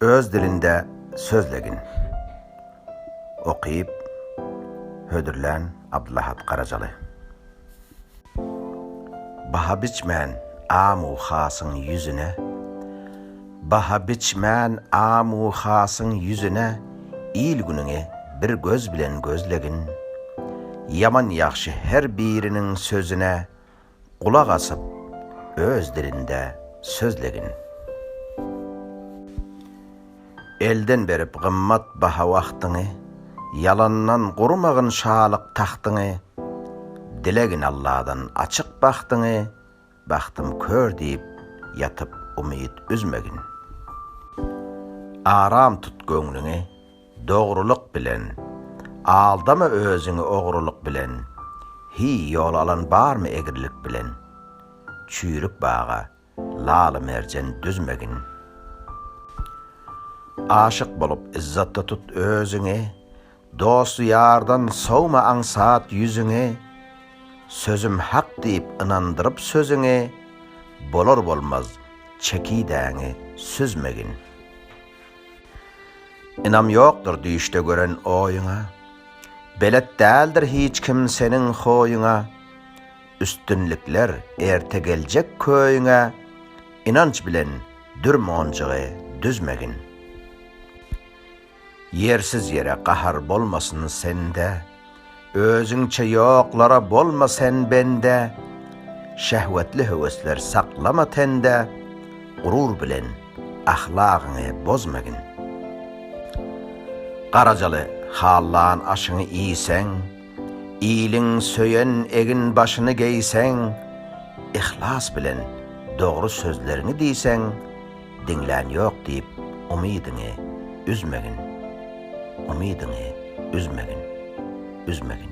Öz dilinde sözlegin. Okyp, hödürlän Abdylahat Garajaly. Baha biçmän am-u hasyň ýüzüne, Baha biçmän am-u hasyň ýüzüne Il-günüňi bir göz bilen gözlegin. Ýaman-ýagşy her biriniň sözüne Gulak asyp, öz dilinde sözlegin. Elden berip gymmat baha wagtyňy, Ýalandan gurmagyn şalyk tagtyňy, Dilegin Alladan açyk bagtyňy, Bagtym kör diýip ýatyp umyt üzmegin. Aram tut göwnüňi, Dogrulyk bilen. Aldama özüňi ogrulyk bilen, Hi, ýol alan barmy egrilik bilen? Çüýrük baga, laly-merjen düzmegin. Aşyk bolup yzzatda tut özüňi, Dost-ýardan sowma aňsat ýüzüňi, Sözüm hak diýip ynandyryp sözüňi, Bolar-bolmaz çekidäňi süzmegin. Ynam ýokdur düýşde gören oýuňa, Belet däldir hiç kim seniň hoýuňa, Üstünlikler erte geljek köýüňe, Ynanç bilen dür monjugy düzmegin. Ýersiz ýere gahar bolmasyn sende. Özüňçe ýoklara bolma sen bende, Şehwetli höwesler saklama tende, Gurur bilen ahlagyňy bozmagin. Garajaly hallan aşyňy iýseň, Iliň söýen egin başyny geýseň, Yhlas bilen dogry sözleriňi diýseň, Diňlän ýok diýip umydyňy üzmegin, umydyňy üzmegin, üzmegin.